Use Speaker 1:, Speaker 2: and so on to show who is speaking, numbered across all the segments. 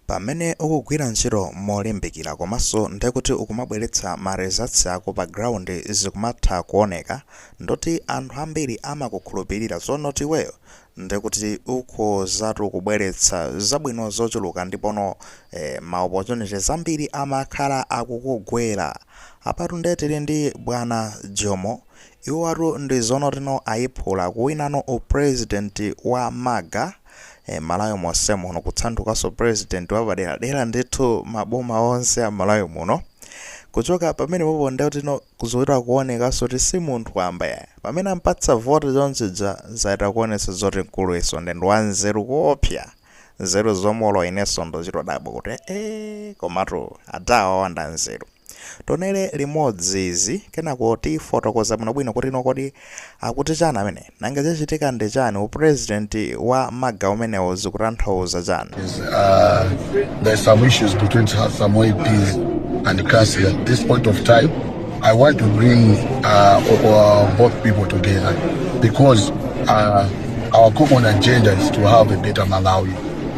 Speaker 1: Pamene ukugwira ntchito molimbikira komanso ndekuti ukumabweretsa ma results ako pa ground zikumatha kuoneka ndekuti anthu ambiri amakukhulupilira zonoti iweyo ndekuti ukhozatu kubweretsa zabwino zochuluka ndipono ma opportunities ambiri amakhala akukugwera. Apatu nde tili ndi bwana Jomo, iwowatu ndi zonotino ayiphula kuwinano u president wa maga. E, Malawi monse muno kutsandukanso president wapaderadera ndithu maboma onse a Malawi muno kuchoka pamene popo ndetino kuzoita kuonekanso kuti si munthu wamba ya pamene ampatsa vote chonchija zaita kuonetsa zoti mkulu iso ndi ndi wanzeru koopsa nzeru zomolo inenso ndochitodabwa kuti ee komatu adawa wanda nzeru Tonele limodzi izi kenako tifotokoza bwinobwino kuti no kodi akuti chani amene? Nanga chachitika ndi chani? U president wa maga umenewo zikutanthauza chani? is uh,
Speaker 2: there's some issues between so- some MPs and councils at this point of time. I want to bring uh, o- o- both people together because uh, our common agenda is to have a better Malawi.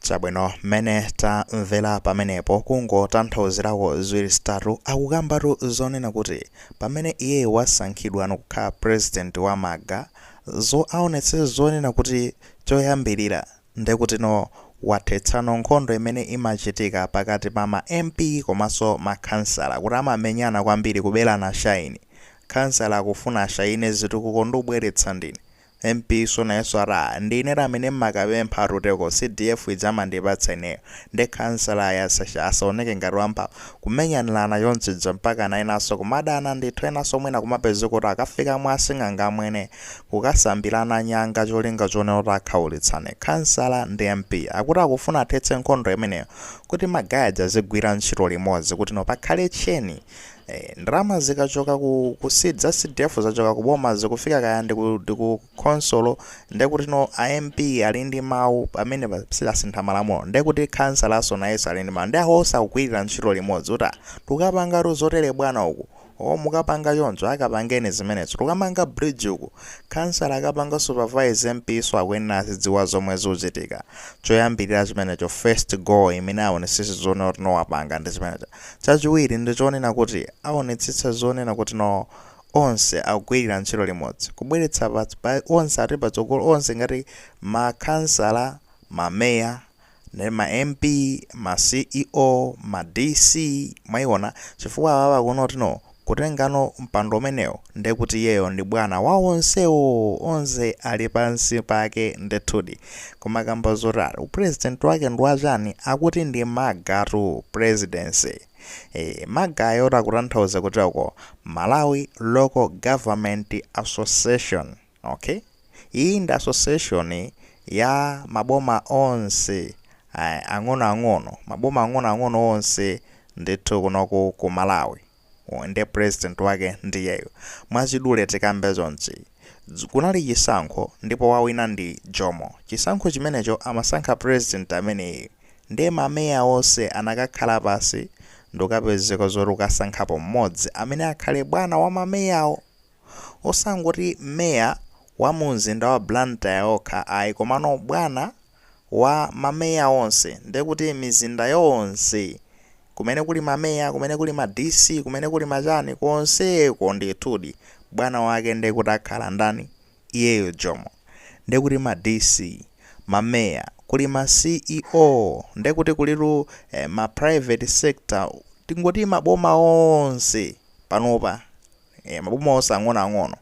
Speaker 2: Chabwino
Speaker 1: mmene tamvera pamenepo kungotanthauzirako ziwiri zitatu akukambatu zonena kuti pamene iyeyo wasankhidwano kukhala president wa maga zo aonetse zonena kuti choyambirira ndekutino wathetsano nkhondo imene imachitika pakati pa ma MP komanso makhansala kuti amamenyana kwambiri kuberana shayini khansala akufuna ashayine zitukuko ndikubweretsa ndine MP so nayeso ati ndi ine ati amene mmakapempha atutengeko CDF ija amandipatsa ineyo nde khansala ayi ase sha asaoneke ngati wamphamvu kumenyanilana chonchi chija mpakana enaso kumadana ndithu enaso mwina kumapezeka kuti akafika mwa asing'anga amwene kukasambilana nyanga cholinga chonena kuti akhaulitsane khansala ndi MP akuti akufuna athetse nkhondo imeneyo kuti ma guy aja azigwira ntchito limodzi kuti no pakhale chain Eee ndalama zikachoka ku ku CD za CDF zachoka ku boma zikufika kaya ndi ku ndi ku khonsolo ndiye kuti no a MP ali ndi mawu pamene pasanasinthe malamulo ndiye kuti khansalaso nayeso ali ndi mawu ndi akhoza kugwirira ntchito limodzi kuti ah tikapangatu zotere bwana uku o mukapanga choncho akapangeni zimenezo tikamanga bridge uku khansala akapanga supervise MP so akuyenera azidziwa zomwe zikuchitika choyambirira chimenecho first goal imene aonesese zonena kuti no wapanga ndi zimenezo Chachiwiri ndi chonena kuti aonetsetsa zonena kuti no onse akugwirira ntchito limodzi, kubweretsa pa pa onse ati patsogolo onse ngati ma khansala, ma meya, ndi ma MP, ma CEO, ma DC, mwaiona, chifukwa awawa kuno kuti no, Kutengano mpando umenewo ndiye kuti iyeyo ndi bwana wa onsewo, onse ali pansi pake ndithudi. Koma kamba zoti ah, upresident wake ndi wachani, akuti ndi MALGA tu presidency. Eh, MALGA yo tikutanthauza kuti uko, Malawi Local Government Association. Ok, iyi ndi association ya maboma onse ang'onoang'ono, maboma ang'onoang'ono onse ndithu kunoku ku Malawi, nde president wake ndiyeyo. Mwachidule tikambe chonchi, kunali chisankho ndipo wawina ndi Jomo, chisankho chimenecho amasankha president ameneyi nde ma mayor onse anakakhala pansi ndikukapezeka zoti kukasankhapo mmodzi amene akhale bwana wa ma mayor'wo. osangoti mayor wa mu mzinda wa Blantyre okha ayi komano bwana wa ma mayor onse ndekuti mizinda yonse kumene kuli ma mayor kumene kuli ma DC kumene kuli machani konseko ndithudi bwana wake ndekuti akhala ndani iyeyo Jomo ndekuti ma DC ma mayor kuli ma CEO ndekuti kulitu eh, ma private sector tingoti maboma onse panopa Eee maboma onse ang'ono ang'ono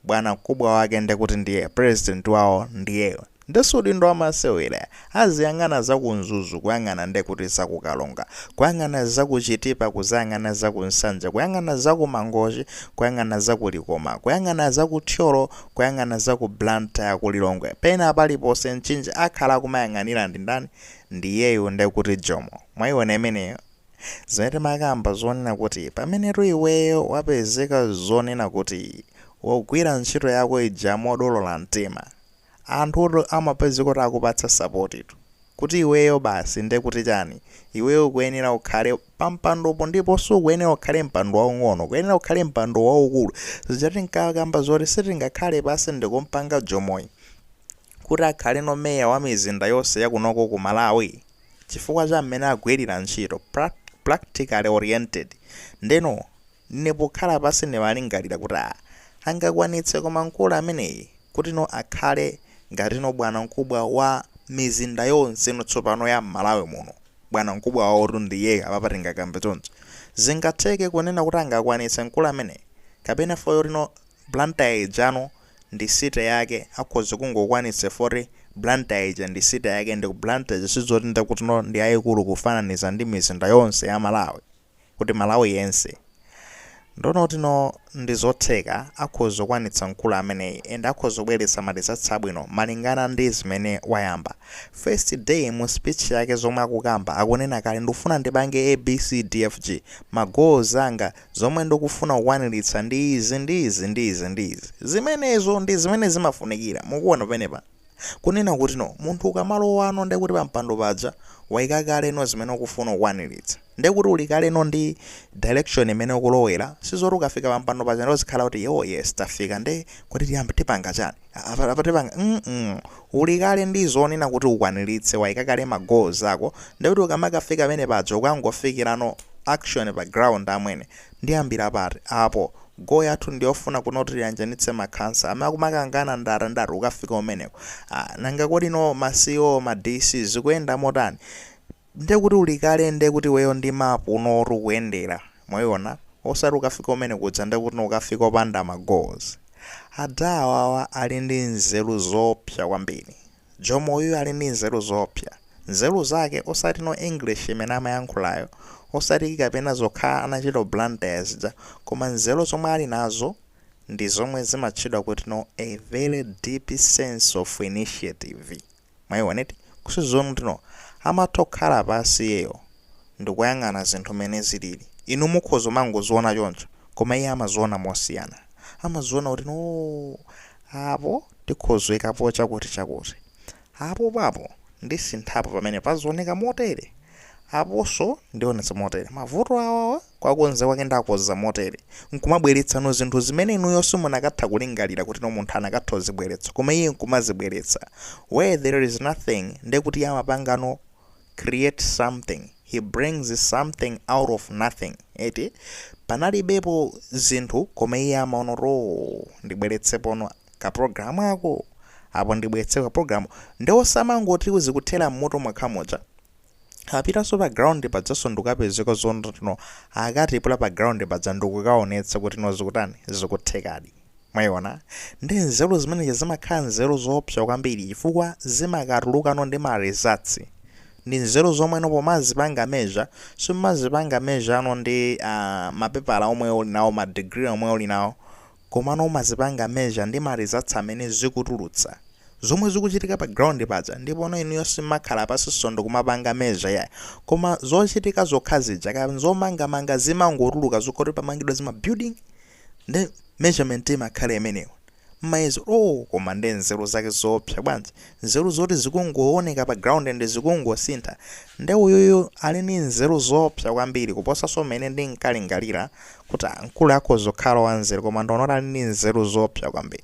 Speaker 1: bwanankubwa wake nde kuti ndiye president wawo ndiyeyo nde si udindo wamasewera aziyang'ana za ku mzuzu kuyang'ana nde kuti za ku karonga kuyang'ana za ku chitipa kuzayang'ana za ku nsanje kuyang'ana za ku mangochi kuyang'ana za ku likoma kuyang'ana za ku thyolo kuyang'ana za ku blantyre ku lilongwe pena paliponse mchinji akhala akumayang'anira ndi ndani ndiyeyo nde kuti jomo mwaiona imeneyo Zimene timakamba zonena kuti pamenetu iweyo wapezeka zonena kuti ugwira ntchito yako ija modolola mtima, anthutu amapezeka kuti akupatsa sapotitu. Kuti iweyo basi nde kuti chani? Iweyo ukuyenera ukhale pampandopo ndipo sukuyenera ukhale mpando waung'ono, ukuyenera ukhale mpando waukulu. Zija tinkakamba zoti sitingakhale pansi ndikumpanga Jomoyi kuti akhaleno mayor wa mizinda yonse yakunoko ku Malawi? chifukwa cha mmene agwirira ntchito, practically oriented, ndeno ine pokhala pansi ndimalingalira kuti ah angakwanitse koma mkulu ameneyi kutino akhale ngatino bwanankubwa wa mizinda yonseno tsopano ya mmalawi muno, bwanankubwa wawotu ndiyeyu apapa tingakambe choncho, zingatheke kunena kuti angakwanitse mkulu ameneyi kapena fukwa chotino Blantyre ijano ndi city yake akhoza kungokwanitsa chifukwa kuti Blantyre ija ndi city yake ndi ku Blantyre sizoti ndekutino ndi yayikulu kufananiza ndi mizinda yonse ya Malawi kuti Malawi yense ndeno tino ndi zotheka akhoza kukwanitsa mkulu ameneyi and akhoza kubweretsa ma results abwino malingana ndi zimene wayamba first day mu speech yake zomwe akukamba akunena kale ndikufuna ndipange ABCDFG ma goals anga Zomwe ndikufuna kukwaniritsa ndi izi, ndi izi, ndi izi, ndi izi. Zimenezo ndi zimene zimafunikira. Mukuona penepa? Kunena kuti, no, munthu ukamalowano ndiye kuti pampando paja waika kale no zimene ukufuna kukwaniritsa. Ndiye kuti uli kale no ndi direction imene ukulowera, sizoti ukafika pampando paja ndiye uzikhala kuti, oh yes, tafika ndiye kodi tiyambe tipanga chani? Uli kale ndi zonena kuti ukwanilitse, waika kale ma goals ako nde kuti ukamakafika pamene paja ukangofikilano action pa ground amwene. Ndiyambila pati apo? Goal yathu ndiyofuna kuno kuti tiyanjanitse makhansala. Amene akumakangana ndi ati ndi ati ukafika kumeneko? Nanga kodi no ma CEO ma DC zikuyenda motani? nde kuti uli kale nde kuti iweyo ndi mapu no oti ukuyendera mwayiona osati ukafika kumene kuja nde kuti ukafika opanda ma goals adha awawa ali ndi nzeru zoopsa kwambiri jomo uyuyu ali ndi nzeru zoopsa nzeru zake osati no english imene amayankhulayo osati kapena zokha anachita blantyre zija koma nzeru zomwe ali nazo ndi zomwe zimatchedwa kuti no a very deep sense of initiative Mwaiwona eti ku sizoni kuti no amatha kukhala pansi iyeyo ndikuyang'ana zinthu mmene zilili. Inu mukhoza kumangoziwona choncho koma iye amaziwona mosiyana. Amaziwona kuti no apo tikhoza kuyikapo chakuti chakuti. Apopo apo ndisinthapo pamenepa paziwoneka motere. Aponso ndiwonetsa motere. Mavuto awawa. Kuwakonza kwake ndiwakonza motere, nkumabweretsano zinthu zimene inuyo simunakatha kulingalira kuti no munthu anakatha kuzibweretsa koma iye nkumazibweretsa where there is nothing nde kuti iye amapangano create something, he brings something out of nothing eti panalibepo zinthu koma iye amaona kuti ooh ndibweretsepono ka program ako apo ndibweretse ka program nde osamangoti zikuthera mmutu mwake muja. Apitaso pa ground pajaso ndikukapezeka zotino akatipula pa ground paja ndikukaonetsa kutino zikutani zikuthekadi mwayiona nde nzeru zimenezi zimakhala nzeru zoopsa kwambiri chifukwa zimakatulukano ndi ma results ndi nzeru zomweno pomazipanga measure simumazipanga measure no ndi ah, mapepala omwe uli nawo ma degree omwe uli nawo komano umazipanga measure ndi ma results amene zikutulutsa zomwe zikuchitika pa ground paja ndipono inuyo simmakhala pansinso ndikumapanga measure yayi koma zochitika zokha zija kaya nzomangamanga zimangotuluka zokha kuti pamangidwa zima building nde measurement imakhala imeneyo muyezo oh koma nde nzeru zake zoopsa bwanji Nzeru zoti zikungowoneka pa ground and zikungosintha nde uyuyu ali ndi nzeru zoopsa kwambiri kuposaso mmene ndinkalingalira kuti mkuluyu akhoza kukhala wanzeru koma ndaona kuti ali ndi nzeru zoopsa kwambiri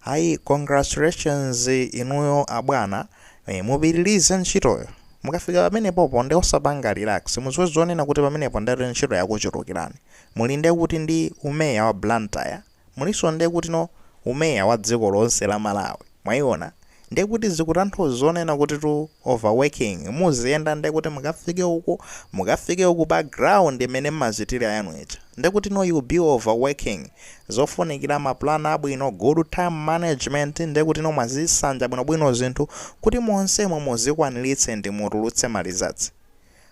Speaker 1: ayi congratulations inuyo abwana eh, mupitirize ntchitoyo mukafika pamenepopo nde osapanga relax mudziwe zonena kuti pamenepo ndekuti ntchito yakuchulukirani muli ndekuti ndi umeya wa Blantyre Mulinso nde kuti no umeya wa dziko lonse la Malawi. Mwayiona? Nde kuti zikutanthauza zonena kuti tu over working. Muziyenda nde kuti mukafike uku, mukafike uku pa ground imene mmachitira yanu ija. Nde kuti no you'll be over working. Zofunikira ma plan abwino, good time management, nde kuti no mwazisanja bwinobwino zinthu kuti monsemo muzikwaniritse ndi mutulutse ma results.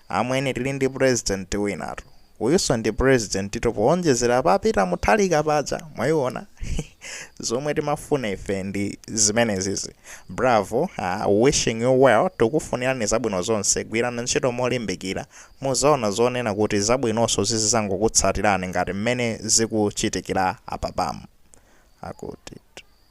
Speaker 1: Amwene tili ndi president winatu. Uyuso ndi presidentitu poonjezera pa Peter Mutharika paja. Mwaiona? Zomwe timafuna ife ndi zimenezizi. Bravo, ahh wishing you well tikufunirani zabwino zonse gwirani ntchito molimbikira. Muzaona zonena kuti zabwinoso zizizangokutsatirani ngati mmene zikuchitikira apapamu. Akuti.